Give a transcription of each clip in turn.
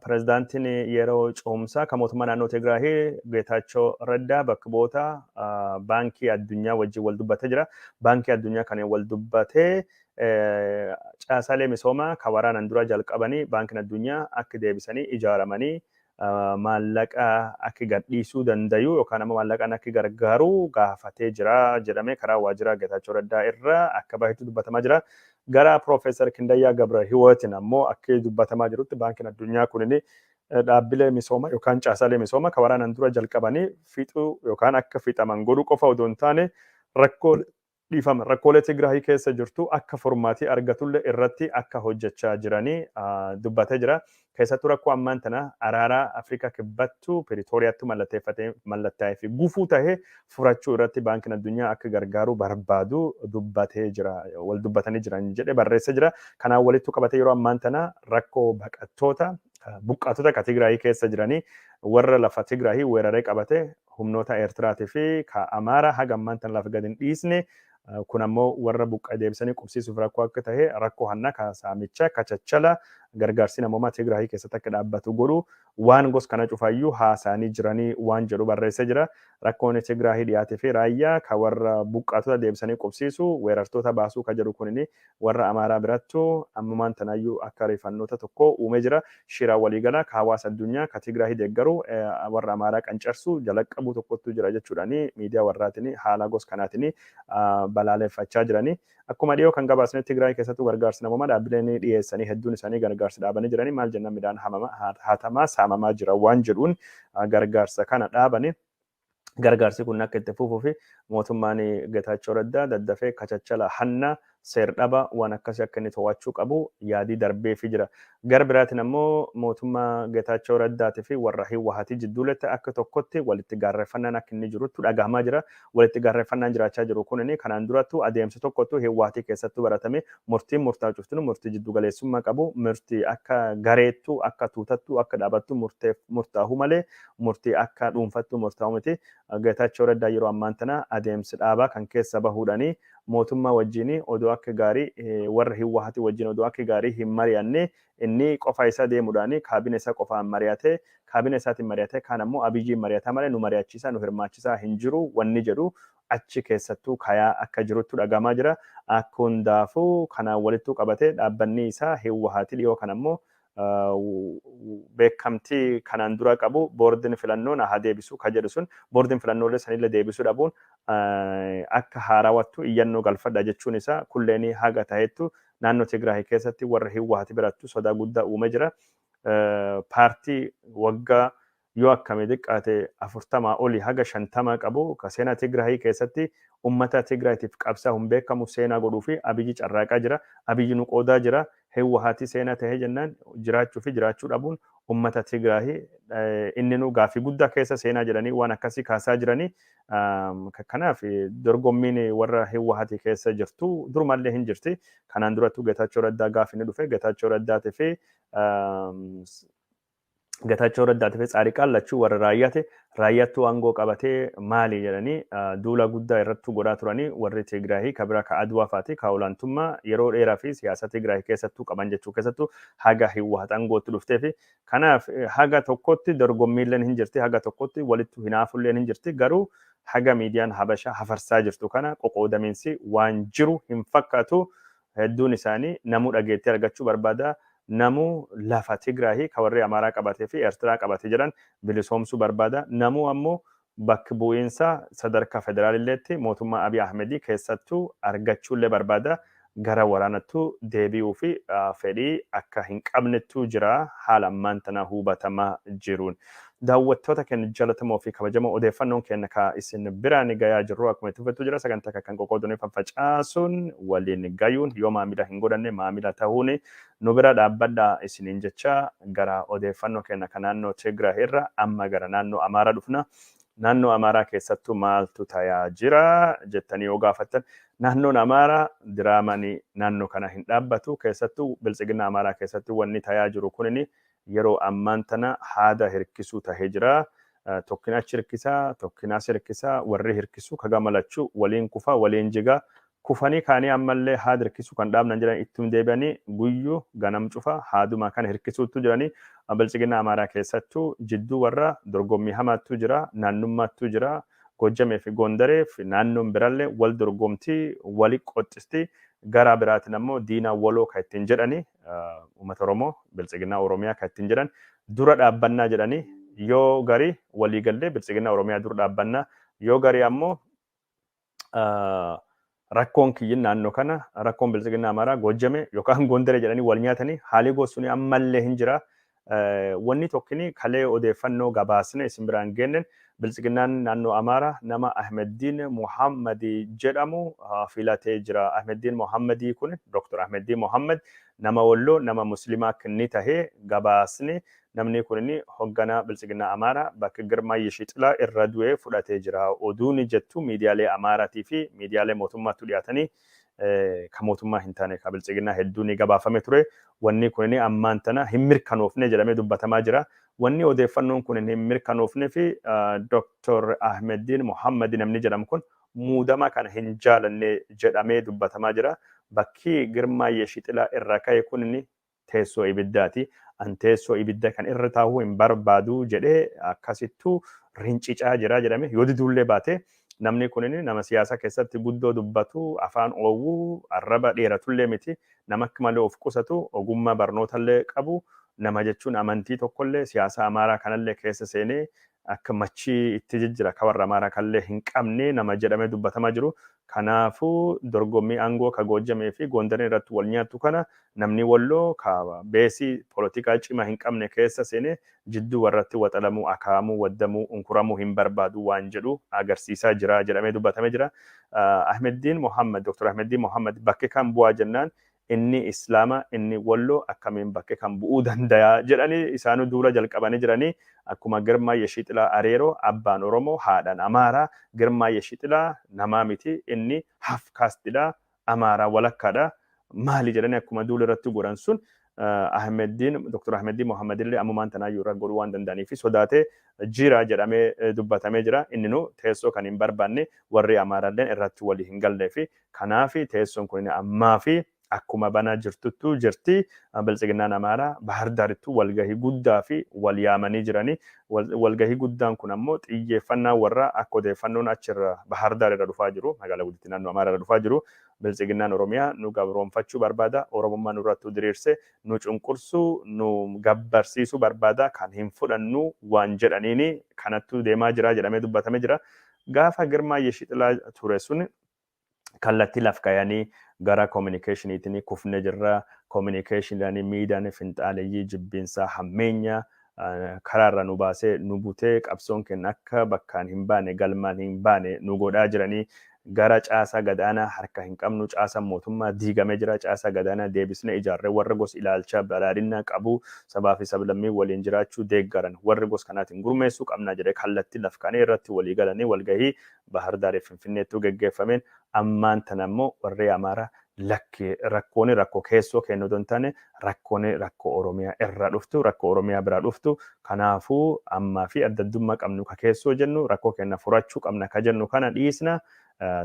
Pirezidaantiin yeroo ce'umsaa kan mootummaa naannoo Tigraahii Geetaachoo Raddaa bakka bu'oota baankii addunyaa wajjin wal dubbatee jira. Baankii addunyaa kan wal dubbatee caasaalee misoomaa kan waraanaan duraa jalqabanii baankiin addunyaa akka deebisanii ijaaramanii maallaqa akka gadhiisuu danda'u yookaan ammoo maallaqaan akka gargaaru gaafatee jira jedhamee karaa waajjira Geetaachoo Raddaa irraa akka bahetu dubbatamaa jira. Gara Prof. Kindayyaa Gabrahiwootin ammoo akki dubbatamaa jirutti Baankin Addunyaa kunini dhaabbilee misooma yookaan caasaalee misooma ka waraanan dura jalqabanii fixuu yookaan akka fixaman godhuu qofa odoo hin taane rakkoolee dhiifama rakkoolee Tigraahii keessa jirtu akka furmaatii argatullee irratti akka hojjechaa jiranii dubbatee jira. Keessattuu rakkoo ammaan tana araaraa Afrikaa Kibbattu Piritooriyaattu mallatteeffatee mallattaa'ee fi gufuu tahe furachuu irratti Baankiin Addunyaa akka gargaaruu barbaadu dubbatee jira, wal dubbatanii jiran jedhe barreesse jira. Kanaan walittu qabatee yeroo ammaan tana rakkoo baqattoota, buqqaatota ka Tigraayii keessa jiranii warra lafa Tigraayii weeraree qabate humnoota Eertiraatii fi ka Amaaraa haga ammaan tana lafa gad hin dhiisne Kun ammoo warra buqqa'e deebisanii qubsiisuuf rakkoo akka tahe, rakkoo hannaa ka saamicha, kachachala, gargaarsi namoomaa Tigraahii keessatti akka dhaabbatu godhu, waan gos kana cufaayyuu haasayanii jiranii waan jedhu barreessee jira. Rakkoon Tigraahii dhiyaatii fi Raayyaa ka warra buqqaatota deebisanii qubsiisu, weerartoota baasuu ka jedhu kunin Warra Amaaraa birattu ammumaan tanaayyuu akka rifannoota tokkoo uumee jira. Shira walii galaa ka hawaasa addunyaa ka Tigraahi deeggaru warra Amaaraa qancarsu jalaqabuu tokkottuu jira jechuudhaan miidiyaa warraatiin haala gos kanaatiin balaaleffachaa jirani. Akkuma dhiyoo kan gabaasne Tigraahi keessattuu gargaarsi namoomaa dhaabbileen dhiyeessanii hedduun isaanii gargaarsa dhaabanii jirani. Maal jennaan midhaan hatamaa, saamamaa jira waan jedhuun gargaarsa kana dhaabani. gargaarsi kun akka itti fufuu fi mootummaan Getaachoo Raddaa daddafee kachachala hanna seer-dhaba waan akkasii akka inni to'achuu qabu yaadii darbeefii jira. Gara biraatiin ammoo mootummaa Getaachoo Raddaatii fi warra Hiwwahatii jidduuletti akka tokkotti walitti gaarreffannaan akka inni jiruttu dhagahamaa jira. Walitti gaarreffannaan jiraachaa jiru kunin kanaan durattu adeemsa tokkottu Hiwwahatii keessattu baratame murtiin murtaa'u cuftinu murtii jiddu galeessummaa qabu murtii akka gareettu akka tuutattu akka dhaabattu murtaahuu malee murtii akka dhuunfattu murtaa'u miti. Getaachoo Raddaa yeroo ammaan tana adeemsi dhaabaa kan keessa bahuudhaan mootummaa wajjiin odoo akka gaarii warra Hiwwahati wajjiin odoo akka gaarii hin mari'anne inni qofa isaa deemuudhaan kaabine isaa qofaan mari'atee kaabine isaatiin mari'atee kaan ammoo Abiyyiin mari'ataa malee nu mari'achiisaa nu hirmaachisaa hin jiru wanni jedhu achi keessattuu kayaa akka jiruttu dhagahamaa jira. Hundaafuu kanaan walittuu qabatee dhaabbanni isaa Hiwwahati dhiyoo kana ammoo beekamtii kanaan dura qabu boordiin filannoo na haa deebisu ka jedhu sun boordiin filannoolee sanillee deebisuu dhabuun akka haarawattu iyyannoo galfadha jechuun isaa kulleenii haga tahettu naannoo Tigraay keessatti warra Hiwwaati birattu sodaa guddaa uume jira. Paartii waggaa yoo akkami xiqqaate 40 oli haga 50 qabu ka seenaa Tigrahi keessatti ummata Tigrahitiif qabsaahun beekamu seenaa godhuu fi Abiyyi carraaqaa jira. Abiyyi nu qoodaa jira. Hiwwahaati seenaa tahee jennaan jiraachuu fi jiraachuu dhabuun ummata Tigrahi inninuu gaaffii guddaa keessa seenaa jedhanii waan akkasii kaasaa jirani. Kanaaf dorgommiin warra Hiwwahaati keessa jirtu durumallee hin jirti. Kanaan durattuu Getaachoo Raddaa gaafa inni dhufe Getaachoo Raddaatii fi Getaachoo Raddaa tafe Tsaariqaan lachuu warra raayyaa ta'e raayyaattuu aangoo qabatee maali jedhanii duulaa guddaa irrattuu godhaa turanii warri Tigraahii ka biraa ka Adwaa faati ka olaantummaa yeroo dheeraa fi siyaasa Tigraahii keessattuu qaban jechuu keessattuu haga Hiwwahat aangootti dhuftee fi kanaaf haga tokkotti dorgommiilleen hin jirti haga tokkotti walittu hinaafulleen hin jirti garuu haga miidiyaan Habashaa hafarsaa jirtu kana qoqoodamiinsi waan jiru hin fakkaatu Hedduun isaanii namuu dhageettii argachuu barbaada, namuu lafa Tigraayi ka warrii Amaaraa qabatee fi Ertiraa qabate jiran bilisoomsuu barbaada, namuu ammoo bakk bu'iinsa sadarkaa federaalilleetti mootummaa Abiy Ahmedii keessattuu argachuullee barbaada, gara waraanattuu deebi'uuf fedhii akka hin qabnettuu jira haala ammaan tanaa huubatamaa jiruun. Daawwattoota keenya jalatamoo fi kabajamoo odeeffannoon keenya ka isin biraan gayaa jirru akkuma itti fufetu jira sagantaa kan kan qoqqoodunee faffacaasuun waliin gayuun yoo maamila hin godhanne maamila tahuun nu bira dhaabbadha isiniin jecha gara odeeffannoo keenya kan naannoo Tigraay irra amma gara naannoo Amaaraa dhufna naannoo Amaaraa keessattuu maaltu tayaa jira jettanii yoo gaafattan naannoon Amaaraa diraamaan naannoo kana hin dhaabbatu keessattuu biltsiginna Amaaraa keessatti wanni tayaa jiru kunini Yeroo ammaan tana haada hirkisuu tahe jira. Tokkin achi hirkisa, tokkin as hirkisa, warri hirkisu ka gama lachu waliin kufa, waliin jiga. Kufanii kaanii ammallee haad hirkisu kan dhaabnan jiran ittum deebi'anii guyyu ganam cufa haaduma kana hirkisuuttu jirani. Biltsiginnaa Amaaraa keessattu jidduu warra dorgommii hamaattu jira, naannummaattu jira. Goojjamee fi Goondaree fi naannoon birallee wal dorgomti, wali qoxxisti. Garaa biraatin ammoo diinaa waloo ka ittiin jedhani uummata Oromoo biltsiginnaa Oromiyaa kan ittiin jedhan dura dhaabbannaa jedhanii yoo garii walii gallee biltsiginnaa Oromiyaa dura dhaabbannaa yoo garii ammoo rakkoon kiyyin naannoo kana rakkoon biltsiginnaa Amaaraa Goojjame yookaan Gondare jedhanii wal nyaatanii haalii goosuni ammallee hin jira Wanni tokkini kalee odeeffannoo gabaasne isin biraan geenne Biltsiginnaan naannoo Amaaraa nama Ahmeddiin Mohammad jedhamu filatee jira. Ahmeddiin Mohammad kun Dr. Ahmeddiin Mohammad nama Wolloo nama Muslimaa akkni tahe gabaasne namni kunini hogganaa Biltsiginnaa Amaaraa bakka Girmaa Yishixilaa irra du'e fudhatee jira. Oduuni jettu miidiyaalee Amaaraatii fi miidiyaalee mootummaattu dhiyaatanii ka mootummaa hin taane ka biltsiginnaa hedduu ni gabaafame ture. Wanni kun ammaan tana hin mirkanoofne jedhamee dubbatamaa jira. Wanni odeeffannoon kun hin mirkanoofne fi Dr. Ahmeddiin Mohammad namni jedhamu kun muudama kana hin jaalanne jedhamee dubbatamaa jira. Bakki Girmaa Yeshixilaa irraa ka'e kun teessoo ibiddaati. An teessoo ibidda kan irra taa'uu hin barbaadu jedhee akkasittu rincicaa jira jedhame. Yoo diduullee baate namni kunin nama siyaasa keessatti guddoo dubbatu, afaan oowwu, arraba dheeratullee miti, nama akka malee of qusatu, ogummaa barnootallee qabu, nama jechuun amantii tokkollee siyaasa Amaaraa kanallee keessa seenee akka machii itti jijjira ka warra Amaaraa kallee hin qabne nama jedhamee dubbatamaa jiru. Kanaafuu dorgommii aangoo ka Goojjamee fi Goondariin irratti wal nyaattu kana namni Wolloo ka beesii polotikaa cimaa hin qabne keessa seenee jidduu warratti waxalamuu, akaa'amuu, waddamuu, unkuramuu hin barbaadu waan jedhu agarsiisaa jira jedhamee dubbatamee jira. Ahmeddiin Mohaammad, Dr. Ahmeddiin Mohaammad bakki kam bu'aa jennaan inni islaama inni wollo akkamiin bakke kan bu'uu dandaya jedhani isaanu duula jalqabani jirani akkuma girmaa yeshiixilaa areero abbaan oromo haadhan amaara girmaa yeshiixilaa namaa miti inni half caste dha amaara walakka dha maali jedhani akkuma duula irratti godhan sun ahmeddiin dr ahmeddiin mohammadillee ammumaan tanaayyuu irra godhuu waan danda'anii fi sodaatee jira jedhamee dubbatamee jira inninu teessoo kan hin barbaanne warri amaaralleen irratti walii hin gallee fi Kanaafi teessoon kunini ammaafi akkuma banaa jirtuttuu jirti. Biltsiginnaan Amaaraa Bahar Daarittuu walgahii guddaafi wal yaamanii jirani. Walgahii guddaan kun ammoo xiyyeeffannaan warraa akka odeeffannoon achi irra Bahar Daar irra dhufaa jiru, magaalaa guddittii naannoo Amaaraa irra dhufaa jiru, Biltsiginnaan Oromiyaa nu gabroomfachuu barbaada, Oromummaa nurrattuu diriirse nu cunqursuu, nu gabbarsiisuu barbaada, kan hin fudhannu waan jedhaniini kanattuu deemaa jira jedhamee dubbatame jira. Gaafa Girmaa Yeshixilaa ture sun kallatti laf kayanii gara communicationitini kufne jirra communicationidhani miidani finxaaleyyii jibbiinsaa hammeenya karaa irraa nu baasee nu butee qabsoon kenna akka bakkaan hin baane galmaan hin baane nu godhaa jiranii gara caasaa gadaanaa harka hin qabnu caasaan mootummaa diigame jira caasaa gadaanaa deebisne ijaarree warra gos ilaalchaa badhaadhinnaa qabu sabaa fi sablammii waliin jiraachuu deeggaran warri gos kanaatiin gurmeessuu qabnaa jedhee kallatti laf kanee irratti walii galanii walgahii Bahar Daariif Finfinneettuu geggeeffameen ammaan tana ammoo warrii Amaaraa lakki rakkooni rakko keessoo keenna odoo hin taane rakkooni rakko Oromiyaa irraa dhuftu, rakko Oromiyaa biraa dhuftu, kanaafuu ammaa fi adda addummaa qabnu ka keessoo jennu rakkoo keenna furachuu qabna ka jennu kana dhiisna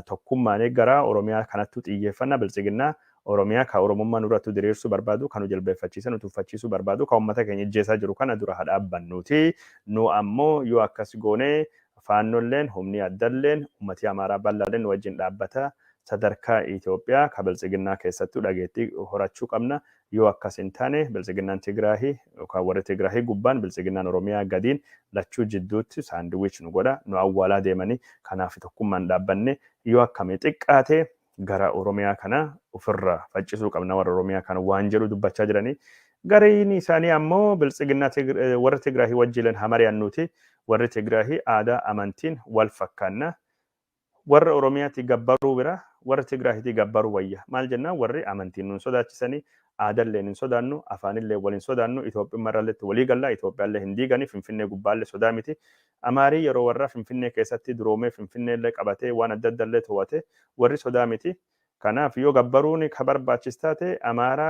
tokkummaani gara Oromiyaa kanattuu xiyyeeffanna Biltsiginna Oromiyaa ka Oromummaa nurrattuu diriirsuu barbaadu ka nu jilbeeffachiisee nu tuffachiisuu barbaadu ka ummata keenya ijjeesaa jiru kana dura ha dhaabbannuuti nu ammoo yoo akkas goone Faannolleen, humnii addalleen, ummatii Amaaraa bal'aalleen nu wajjin dhaabbata. Sadarkaa Itoophiyaa ka Biltsiginnaa keessattuu dhageettii horachuu qabna. Yoo akkas hin taane Biltsiginnaan Tigraahi yookaan warri Tigraahi gubbaan Biltsiginnaan Oromiyaa gadiin lachuu jidduutti saandiwiich nu godha, nu awwaalaa deemanii. Kanaaf tokkummaan dhaabbannee yoo akkami xiqqaate gara Oromiyaa kana ofirra faccisuu qabna warra Oromiyaa kana waan jedhu dubbachaa jiranii. Gariin isaanii ammoo biltsiginnaa warra Tigraahii wajjiilan haa mari'annuuti. Warri Tigraahii aadaa amantiin wal fakkaanna. Warra Oromiyaatti gabbaruu bira warra Tigraahiitii gabbaruu wayya. Maal jennaan warri amantiin nun sodaachisanii aadalleen hin sodaannu, afaanillee wal hin sodaannu, Itoophiyummarralleetti walii galla, Itoophiyaallee hin diigani, Finfinnee gubbaallee sodaa miti. Amaarii yeroo warra Finfinnee keessatti duroomee Finfinnee illee qabatee waan adda adda illee towate warri sodaa miti. Kanaaf yoo gabbaruun ka barbaachis taate Amaaraa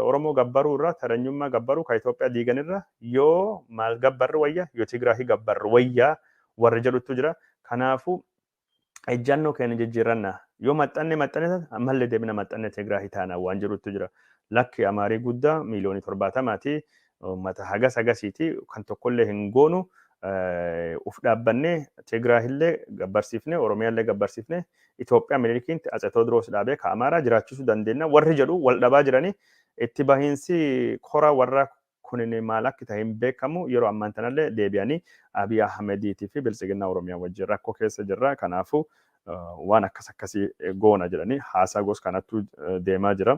Oromoo gabbaruu irra taranyummaa gabbaruu ka Itoophiyaa diigan irra yoo maal gabbarru wayya yoo Tigraahi gabbarru wayya warri jedhuttu jira. Kanaafuu ejjannoo keenya jijjiiranna. Yoo maxxanne maxxanne taate ammallee deebina maxxanne Tigraahii taana waan jedhutu jira. Lakki Amaarii guddaa miiliyoonii torbaatamaati. Uummata hagas hagasiiti. Kan tokkollee hin goonu. Uf dhaabbannee Tigraahillee gabbarsiifne, Oromiyaallee gabbarsiifne, Itoophiyaa Minilikiinti Atse Tewoodiroos dhaabee ka Amaaraa jiraachisuu dandeenya warri jedhu wal dhabaa jiranii itti bahiinsi kora warra kunini maal akki tahe hin beekamu yeroo ammaan tanalle deebi'ani Abiy Ahmediiti fi Biltsiginnaa Oromiyaa wajjin rakko keessa jirra kanaafu waan akkas akkasi goona jedhani haasaa gos kanattu deemaa jira.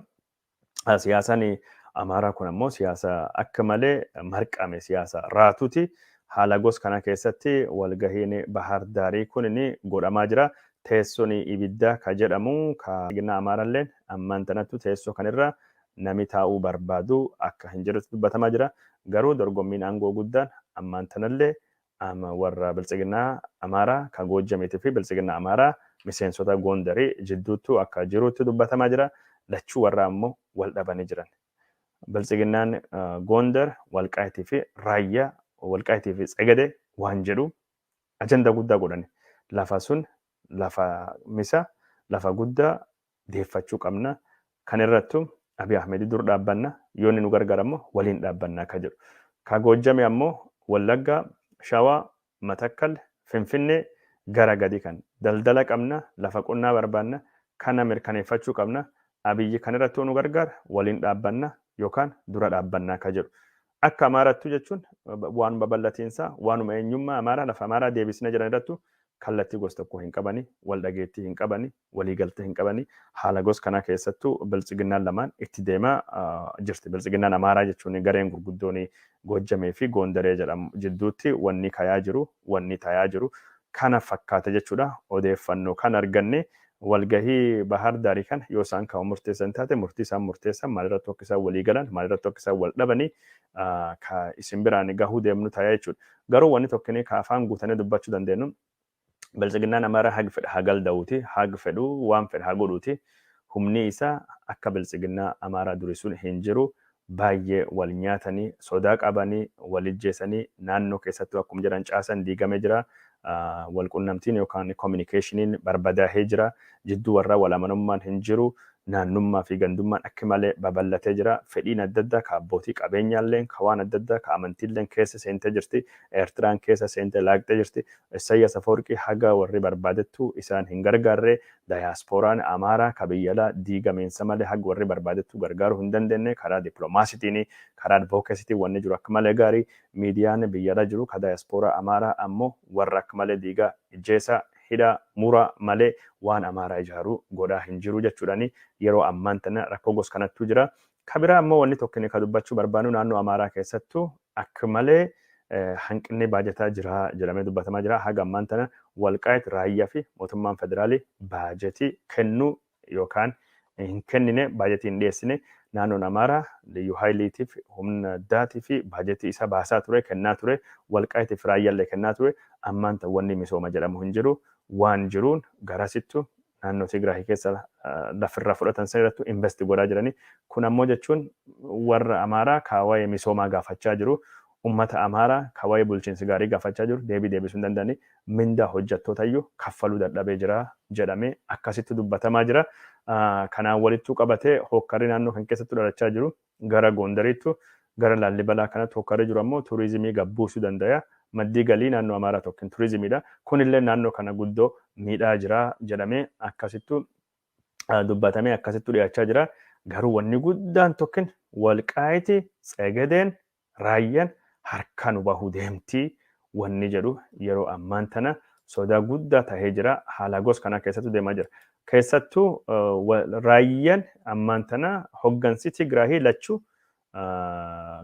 Siyaasani Amaaraa kun ammoo siyaasa akka malee marqame siyaasa raatuti haala gos kana keessatti walgahiin Bahaar Daarii kunini godhamaa jira teessoni ibiddaa ka jedhamu ka Biltsiginnaa Amaaralleen ammaan tanattu teessoo kanirra Nami taa'uu barbaadu akka hin jirretti dubbatamaa jira. Garuu dorgommiin aangoo guddaan ammaan tanallee ama warra Biltsiginnaa Amaaraa ka Goojjamiitii fi Biltsiginnaa Amaaraa miseensota Goondarii jidduuttuu akka jiruutti dubbatamaa jira. Lachuu warraa ammoo wal dhabanii jiran. Biltsiginnaan Goondar, Walqaayitii fi Raayyaa, Walqaayitii fi Tsegede waan jedhu ajandaa guddaa godhani. Lafa sun lafa misa, lafa guddaa deeffachuu qabna. Kan irrattu Abiy Ahmedi dur dhaabbanna, yoo inni nu gargaare ammo waliin dhaabbanna ka jedhu. Ka Goojjame ammo Wallagga, Shawa, Matakkal, Finfinne gara gadi kan. Daldala qabna, lafa qonnaa barbaanna, kana mirkaneeffachuu qabna. Abiy kan irratti yoo nu gargaare waliin dhaabbanna yookaan dura dhaabbanna ka jedhu. Akka Amaarattu jechuun waan babal'atiinsa waanuma eenyummaa Amaaraa lafa Amaaraa deebisna jedhan irrattu kallattii gos tokkoo hin qabani, wal dhageettii hin qabani. waliigaltee hin qabani. Haala gos kanaa keessattuu biltsiginnaan lamaan itti deemaa jirti. Biltsiginnaan Amaaraa jechuun gareen gurguddoon Goojjamee fi Goondaree jedhamu jidduutti wanni kayaa jiru, wanni tayaa jiru kana fakkaata jechuudha. Odeeffannoo kan arganne walgahii Bahaar Daarii kana yoo isaan kan murteessan taate murtii isaan murteessan maalirratti akka isaan walii galan maalirratti akka isaan wal dhabanii ka isin biraan gahuu deemnu tayaa jechuudha. Garuu wanni tokkinii ka afaan guutanee dubbachuu dandeenyu Biltsiginnaan Amaaraa hag fedhe haa galda'uuti, hag fedhu waan fedhe haa godhuuti, humnii isaa akka Biltsiginnaa Amaaraa durii sun hin jiru, baayyee wal nyaatani, sodaa qabani, wal ijjeesani, naannoo keessattuu akkum jedhan caasan diigamee jira, wal qunnamtiin yookaan communication barbadaahee jira, Jidduu warraa walamanummaan hin jiru, naannummaa fi gandummaan akk malee baballatee jira, fedhiin adda addaa ka abbootii qabeenyaalleen, ka waan adda addaa, ka amantiilleen keessa seentee jirti, Eertiraan keessa seentee laaqxee jirti. Issayyaas Afawarqii haga warri barbaadettuu isaan hin gargaarree, dayaaspooraan Amaaraa ka biyya alaa diigamiinsa malee hag warri barbaadettuu gargaaruu hin dandeennee, karaa diplomaasitiini, karaa advocacytiin wanni jiru akk malee gaarii, miidiyaan biyya alaa jiru ka dayaaspooraa Amaaraa ammoo warra akk malee diigaa, ijjeesaa, hidha mura malee waan Amaaraa ijaaru godhaa hin jiru jechuudhani yeroo ammaan tana rakkoo gos kanattuu jira. Ka biraa ammoo wanni tokkini ka dubbachuu barbaannu naannoo Amaaraa keessattu akk malee hanqinni baajataa jira jedhamee dubbatamaa jira. Haga ammaan tana Walqaayit, Raayyaa fi mootummaan federaali baajeti kennuu yookaan hin kennine, baajetii hin dhiyeessine, naannoon Amaaraa Liyyuu Hayiliitiif, humna addaatiif baajetii isa baasaa ture, kennaa ture, Walqaayitiif fi Raayyaallee kennaa ture, ammaan tan wanni misooma jedhamu hin jiru, waan jiruun garasittu naannoo Tigraahi keessa lafa irraa fudhatan san irrattu investi godhaa jiranii, kun ammoo jechuun warra Amaaraa ka waa'ee misoomaa gaafachaa jiru, Ummata Amaara ka wa'ee bulchiinsi gaarii gaafachaa jiru deebii deebisuu hin danda'anii, mindaa hojjattootayyuu kaffaluu dadhabee jira jedhamee akkasittu dubbatamaa jira. Kanaan walittuu qabatee hookkarri naannoo kan keessattu dhalachaa jiru gara Goondariittu, gara Laallibalaa kanattu hookkarri jiru ammoo turizimii gad buusuu dandaya. Maddii galii naannoo Amaaraa tokkin turizimiidha. Kunilleen naannoo kana guddoo miidhaa jira jedhamee akkasittu dubbatamee akkasittu dhiyaachaa jira. Garuu wanni guddaan tokkin Walqaayiti, Tsegedeen, Raayyan harkaa nu bahuu deemti wanni jedhu yeroo ammaan tana sodaa guddaa tahee jira. Haala gos kanaa keessattu deemaa jira. Keessattu Raayyan ammaan tana hoggansi Tigraahii lachu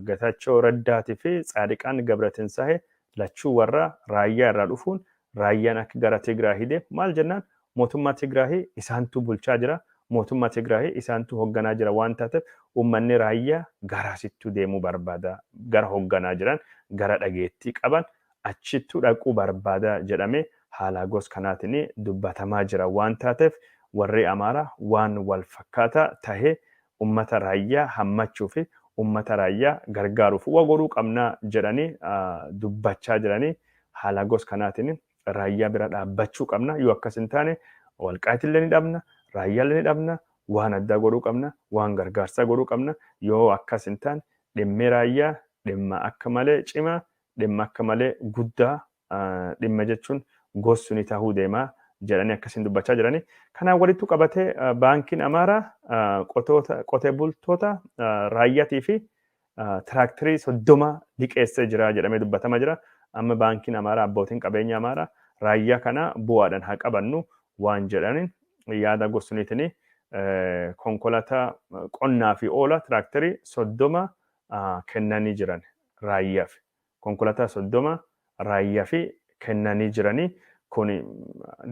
Getaachoo Raddaati fi Tsaadiqaan Gabratensaahe lachuu warra Raayyaa irraa dhufuun Raayyaan akka gara Tigraahi deemu maal jennaan mootummaa Tigraahi isaantu bulchaa jira, mootummaa Tigraahi isaantu hogganaa jira waan taateef uummanni raayyaa garaasittuu deemuu barbaada, gara hogganaa jiran, gara dhageettii qaban achittuu dhaquu barbaada jedhamee haalaa gos kanaatiin dubbatamaa jira waan taateef warrii Amaaraa waan wal fakkaataa tahee Ummata Raayyaa hammachuu fi ummata Raayyaa gargaaruuf wa godhuu qabna jedhanii dubbachaa jiranii haala gos kanaatiin Raayyaa bira dhaabbachuu qabna yoo akkas hin taane Walqaayit illee ni dhabna Raayyaa illee ni dhabna waan addaa godhuu qabna waan gargaarsaa godhuu qabna yoo akkas hin taane dhimmi Raayyaa dhimma akka malee cimaa dhimma akka malee guddaa dhimma jechuun gossu ni tahuu deema jedhanii akkasiin dubbachaa jirani. Kanaan walittu qabatee baankiin Amaaraa qotee bultoota raayyatii fi tiraaktirii soddoma liqeessee jira jedhamee dubbatama jira. Amma baankiin Amaaraa abbootiin qabeenya Amaaraa raayyaa kana bu'aadhaan haa qabannu waan jedhaniin yaada gorsuniitiin konkolaataa qonnaa fi oola tiraaktirii soddoma kennanii jiran raayyaaf. Konkolataa 30 raayyafi kennanii jirani kun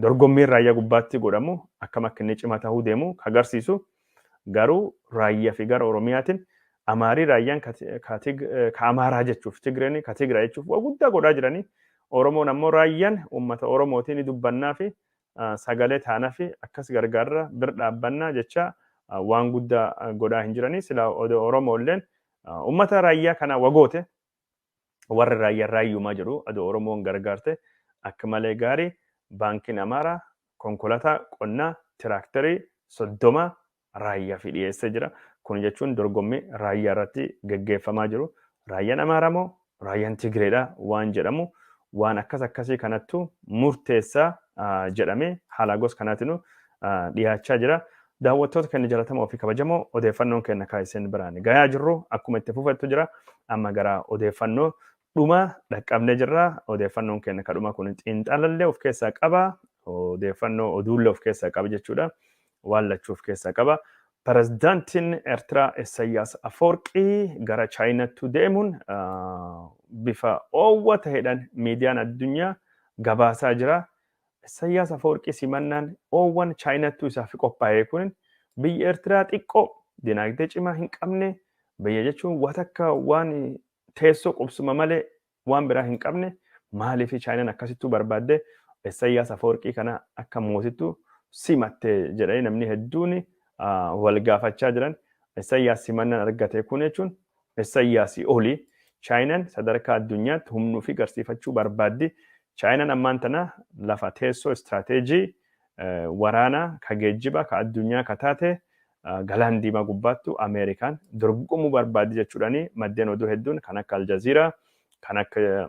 dorgommiin raayyaa gubbaatti godhamu akkam akka inni cima tahuu deemu ka garsiisu garuu raayyafi gara oromiyaatin amaarii raayyaan ka amaaraa jechuuf tigreen ka tigra jechuuf waa guddaa godhaa jirani oromoon ammoo raayyan ummata oromootii ni dubbannaafi sagalee taanafi akkas gargaarra bir dhaabbannaa jechaa waan guddaa godhaa hin jirani silaa odoo oromoolleen ummata raayyaa kana wagoote warri raayyaa raayyuumaa jedhu adoo Oromoon gargaarte akka malee gaarii baankiin Amaaraa konkolataa qonnaa tiraakterii 30 raayyaafii dhiyeessee jira. Kun jechuun dorgommii raayyaa irratti geggeeffamaa jiru raayyaan Amaaraa moo raayyaan Tigireedha waan jedhamu waan akkas akkasii kanattu murteessaa jedhamee haalaa gos kanaatinuu dhiyaachaa jira. Daawwattoota keenya jalatamoo fi kabajamoo odeeffannoon keenya kan isin biraan gayaa jirru akkuma itti fufettu jira. Amma gara odeeffannoo dhuma dhaqqabnee jirra. Odeeffannoon keenya kan dhuma kun xiinxalallee of keessaa qaba. Odeeffannoo oduullee of keessaa qaba jechuudha. Waan lachuu of keessaa qaba. Pirezidaantiin Eertiraa Isayyaas Afoorqii gara Chaayinaatti deemuun bifa oowwa ta'eedhaan miidiyaan addunyaa gabaasaa jira. Issayyaas Afawarqii simannaan oowwan Chaayinattuu isaaf qophaa'ee kunin biyya Ertiraa xiqqoo dinaagdee cimaa hin qabne biyya jechuun watakka waan teessoo qubsuma malee waan biraa hin qabne maaliif Chaayinan akkasittuu barbaaddee Issayyaas Afawarqii kana akka mootittuu simatte jedhanii namni hedduun wal gaafachaa jiran Issayyaas simannaan argate kun jechuun Issayyaasii olii Chaayinaan sadarkaa addunyaatti humna ofii garsiifachuu barbaaddi. Chaayinaan ammaan tana lafa teessoo istiraateejii waraanaa ka geejjibaa ka addunyaa ka taate galaan diimaa gubbaattu Ameerikaan dorgomuu barbaaddi jechuudhaan maddeen oduu hedduun kan akka Aljaziiraa kan akka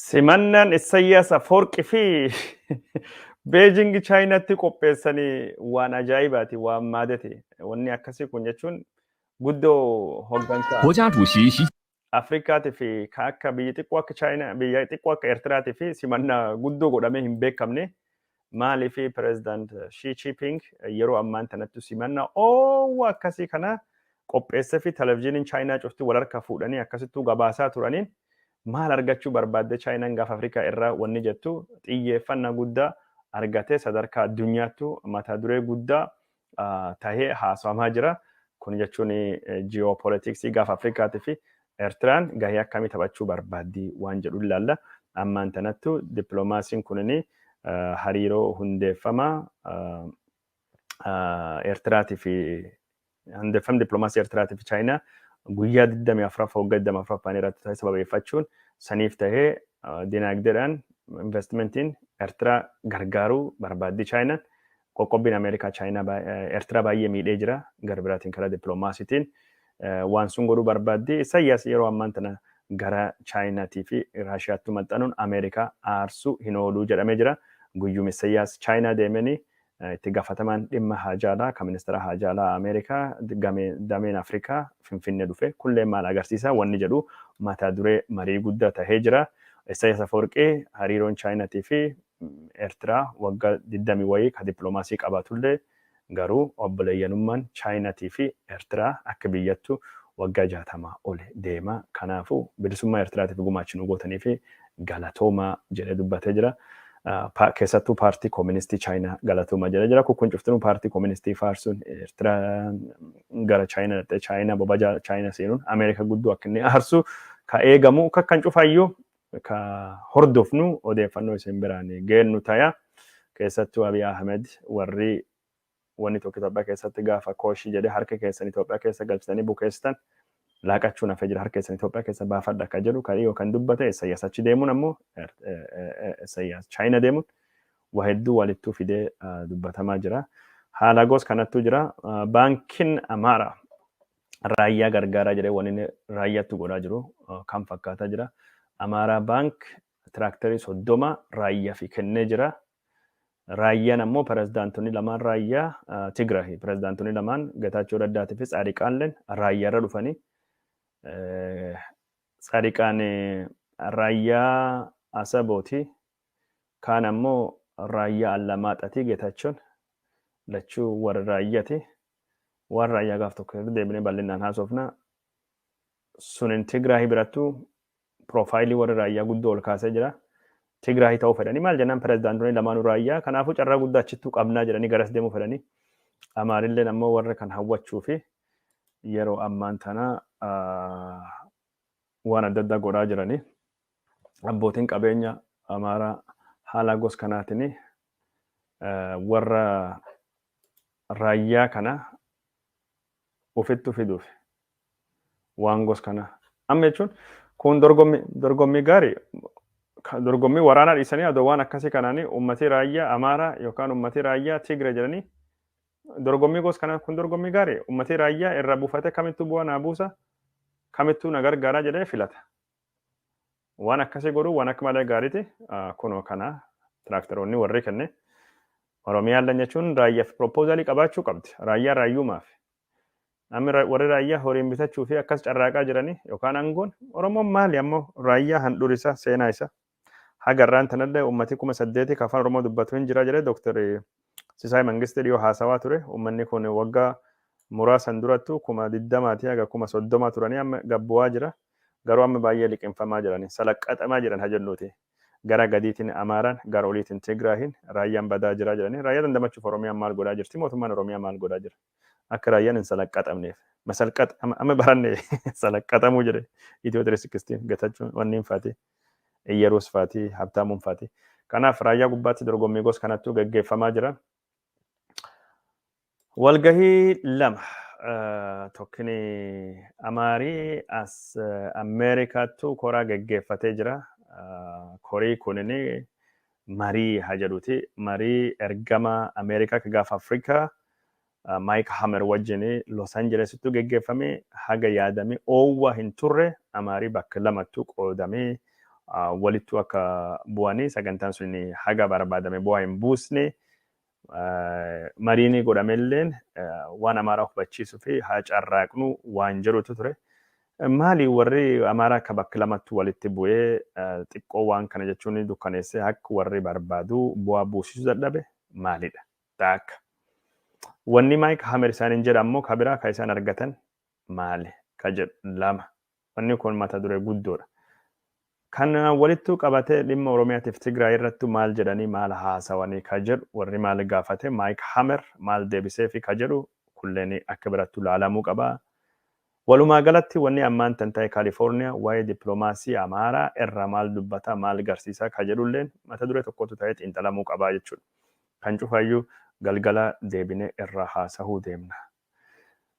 Simannaan Issayyaas Afoorqi fi Beejingi Chaayinaatti qopheessanii waan ajaa'ibaati waan maadate. Wanni akkasii kun jechuun guddoo hoggansa 国家主席习 Afrikaatii fi kan akka biyya xiqqoo akka Chaayinaa, biyya xiqqoo akka Eertiraatii fi simannaa guddoo godhamee hin beekamne Maaliif Pireezidaant Shii Chiiping yeroo ammaan tanattu simanna oowwa akkasii kana qopheessefi televizyiiniin Chaayinaa cufti wal harka fuudhanii akkasittuu gabaasaa turaniin maal argachuu barbaadde Chaayinaan gaafa Afrikaa irraa wanni jettu xiyyeeffannaa guddaa argatee sadarkaa addunyaattu mata duree guddaa tahee haasawamaa jira. Kun jechuun ji'oopoolitiksii gaafa Afrikaatii fi Eertiraan gahee akkamii taphachuu barbaaddi waan jedhu ilaalla. Ammaan tanattu dippiloomaasiin kunin hariiroo hundeeffama Eertiraatii fi hundeeffamni dippiloomaasii Eertiraatii fi Chaayinaa guyyaa 24 waggaa 24 irratti ta'e sababeeffachuun saniif ta'ee dinaagdeedhaan investimentiin Eertiraa gargaaruu barbaaddi Chaayinaan Qoqqobbiin Ameerikaa Chaayinaa Ertiraa baay'ee miidhee jira. Gara biraatiin karaa dippiloomaasiitiin waan sun godhuu barbaaddi. Isayyaas yeroo ammaan tana gara Chaayinaatii fi Raashiyaattuu maxxanuun Ameerikaa aarsuu hin ooluu jedhamee jira. Guyyuma Isayyaas Chaayinaa deemeni itti gaafatamaan dhimma haajaalaa kan ministeera haajaalaa Ameerikaa dameen Afrikaa Finfinnee dhufe kunillee maal agarsiisa wanni jedhu mata duree marii guddaa tahee jira. Isayyaas Afawarqii hariiroon Chaayinaatii fi Ertiraa wagga digdamii wayii ka diplomaasii qabaatullee garuu obboleeyyanummaan Chaayinatii fi Ertiraa akka biyyattu waggaa jaatama oli deema. Kanaafuu bilisummaa Ertiraatiif gumaachi nu gootaniif galatoomaa jedhee dubbatee jira. Keessattuu paartii kooministii Chaayinaa galatoomaa jedhee jira. Kun cuftinuu paartii kooministii faarsuun Ertiraan gara Chaayina dhaqxee Chaayina bobaja Chaayina seenuun Ameerika guddoo akka inni aarsu ka eegamu kakkan cufayyuu ka hordofnu odeeffannoo isin biraan geennu taya. Keessattuu Abiy Ahmed warri wanni tokko Itoophiyaa keessatti gaafa kooshi jedhe harka keessan Itoophiyaa keessa galchitanii bukeessitan laaqachuun hafee jira harka keessan Itoophiyaa keessa baafadha akka jedhu kan dhiyoo kan dubbate Isayyaas achi deemuun ammoo Isayyaas Chaayina deemuun waa hedduu walittuu fidee dubbatamaa jira. Haala goos kanattuu jira. Baankiin Amaaraa raayyaa gargaaraa jedhee waan inni raayyaatti godhaa jiru uh, kan fakkaataa jira. Amaaraa baank tiraaktarii soddoma raayyaa fi kennee jira. Raayyaan ammoo pirezidaantonni lamaan raayyaa uh, Tigrahi pirezidaantonni lamaan Getaachoo Raddaatii fi Tsaadiqaanleen raayyaa irra dhufanii uh, Tsaadiqaan eh, raayyaa Asabooti kaan ammoo raayyaa Allamaaxatii Getaachoon lachuu warra raayyaati. waan raayyaa gaaf tokko irra deebinee bal'inaan haasofna. Sunin Tigraahi birattu piroofaayilii warra raayyaa guddoo ol kaasee jira. Tigraahi ta'uu fedhanii maal jennaan pirezidaantonni lamaanuu raayyaa kanaafuu carraa guddaa achittuu qabnaa jedhanii garas deemuu fedhanii. Amaarilleen ammoo warra kan hawwachuu fi yeroo ammaan tana waan adda addaa godhaa jiranii. abbootiin qabeenya Amaaraa haalaa gos kanaatiin warra raayyaa kana ofittu fiduuf waan gos kana amma jechuun kun dorgommii dorgommii gaarii dorgommii waraanaa dhiisanii adoo waan akkasii kanaanii uummatii raayyaa Amaaraa yookaan uummatii raayyaa Tigree jedhanii dorgommii gos kana kun dorgommii gaarii uummatii raayyaa irra buufate kamittuu bu'aa naa buusa kamittuu na gargaaraa jedhee filata. Waan akkasii godhuu waan akka malee gaariiti kunoo kana tiraaktaroonni warri kenne Oromiyaan lan jechuun raayyaaf piroopoozaalii qabaachuu qabdi. Raayyaa raayyuumaaf. Namni warri raayyaa horiin bitachuu fi akkas carraaqaa jiranii yookaan aangoon Oromoon maali ammoo raayyaa handhuura isaa seenaa isaa. Haga har'aan tanallee uummatii kuma saddeetii ka Afaan Oromoo dubbatu hin jira jedhee Dr. Sisaay Mangistii dhiyoo haasawaa ture. Uummanni kun wagga muraasan durattuu kuma digdamaatii haga kuma soddomaa turanii amma gad bu'aa jira. Garuu amma baay'ee liqimfamaa jirani. Salaqqaxamaa jiran ha jennuuti. Gara gadiitiin Amaaraan, gara oliitiin Tigraayiin, raayyaan badaa jira jedhanii. Raayyaa dandamachuuf Oromiyaan maal godhaa jirti? Mootummaan Oromiyaa maal godhaa jira? Akka raayyaan hin salaqqaxamneef. Masalqax amma baranne salaqqaxamuu jedhe Itiyoo 360 Getachuun wanniin faatii. Iyyaruus faati, Habtaamuun faati. Kanaaf Raayyaa gubbaatti dorgommii gos kanattuu gaggeeffamaa jira. Walgahii lama tokkini Amaarii as Ameerikaattuu koraa gaggeeffatee jira. Korii kunini marii haa jedhuti. Marii ergama Ameerikaa ka gaafa Afrikaa Mike Hammer wajjin Los Angelesittu geggeeffame haga yaadame oowwa hin turre Amaari bakka lamattu qoodame walittu akka bu'ani sagantaan sun haga barbaadame bu'aa hin buusne mariini godhamelleen waan Amaaraa hubachiisu fi haa carraaqnu waan jedhutu ture. Maali warri Amaaraa akka bakka lamattu walitti bu'ee xiqqoo waan kana jechuun dukkaneesse akka warri barbaadu bu'aa buusisu dadhabe maalidha? Taak. Wanni Mike Hammer isaaniin jedha ammoo ka biraa ka isaan argatan maali? ka jedhu 2. Wanni kun mata duree guddoodha. Kanaan walittuu qabatee dhimma Oromiyaatiif Tigraay irrattu maal jedhanii maal haasawanii ka jedhu warri maal gaafate Mike Hammer maal deebiseefi ka jedhu kulleen akka birattu laalamuu qaba. Walumaa galatti wanni ammaan tan ta'e California waa'ee diplomaasii Amaaraa irraa maal dubbata maal garsiisa ka jedhulleen mata duree tokkotu ta'ee xiinxalamuu qaba jechuudha. Kan cufayyuu galgala deebinee irraa haasahuu deemna.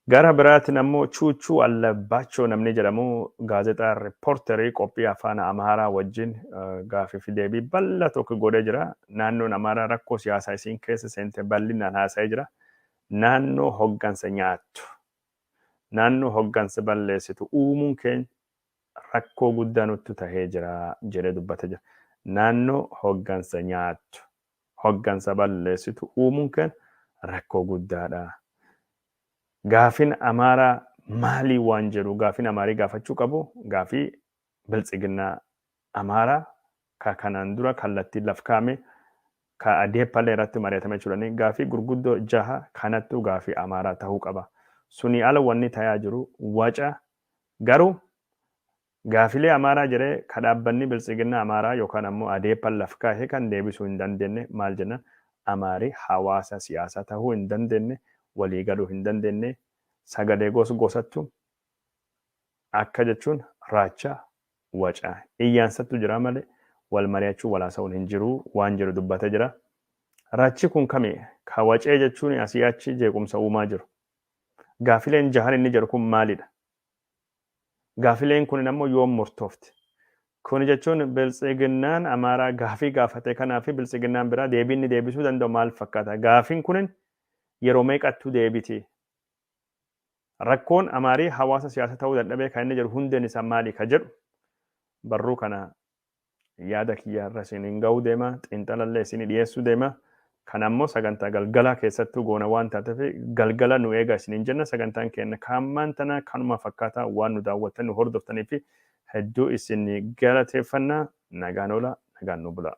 Gara biraatiin ammoo Chuuchuu Allabbaachoo namni jedhamu gaazexaa Riippoorterii qophii Afaan Amaaraa wajjin gaafii fi deebii bal'aa tokko godhee jira. Naannoon Amaaraa rakkoo siyaasaa isiin keessa seente bal'inaan haasa'ee jira. Naannoo hoggansa nyaattu, naannoo hoggansa balleessitu uumuun keenya rakkoo guddaa nuttu tahee jira jedhee dubbatee jira. Naannoo hoggansa nyaattu. hoggansa balleessitu uumuun keen rakkoo guddaadha. Gaafin Amaaraa maalii waan jedhu gaafin Amaarii gaafachuu qabu gaafii Biltsiginnaa Amaaraa ka kanaan dura kallattiin laf kaa'ame ka Adeeppallee irratti mari'atame jechuudhani gaafii gurguddoo jaha kanattuu gaafii Amaaraa tahuu qaba. Sunii ala wanni tayaa jiru waca garuu Gaafilee Amaaraa jedhee ka dhaabbanni Biltsiginnaa Amaaraa yookaan ammoo Adeeppan laf kaahe kan deebisuu hin dandeenne maal jennaan Amaari hawaasa siyaasaa tahuu hin dandeenne, walii galuu hin dandeenne, sagalee gos gosattu akka jechuun raacha, waca, iyyaansattu jira malee wal mari'achuun wal haasawuun hin jiru waan jedhu dubbatee jira. Rachi kun kami ka wacee jechuun asii achi jeequmsa uumaa jiru? Gaafileen jahan inni jedhu kun maalidha? Gaafileen kunin ammoo yoom murtoofti? Kuni jechuun Biltsiginnaan Amaaraa gaafii gaafate kanaa fi Biltsiginnaan biraa deebii inni deebisuu danda'u maal fakkaata? Gaafin kunin yeroo meeqattuu deebiti? Rakkoon Amaarii hawaasa siyaasa ta'uu dadhabee kan inni jedhu hundeen isaa maali ka jedhu barruu kana yaada kiyya irra isiniin ga'uu deema xiinxalallee isinii dhiyeessuu deema kan ammoo sagantaa galgalaa keessattuu goona waan taateef galgala nu eegaa isiniin jenna sagantaan keenya kaammaan tana kanuma fakkaataa waan nu daawwattan nu hordoftanii fi hedduu isin galateeffanna nagaan oola nagaan nu bulaa.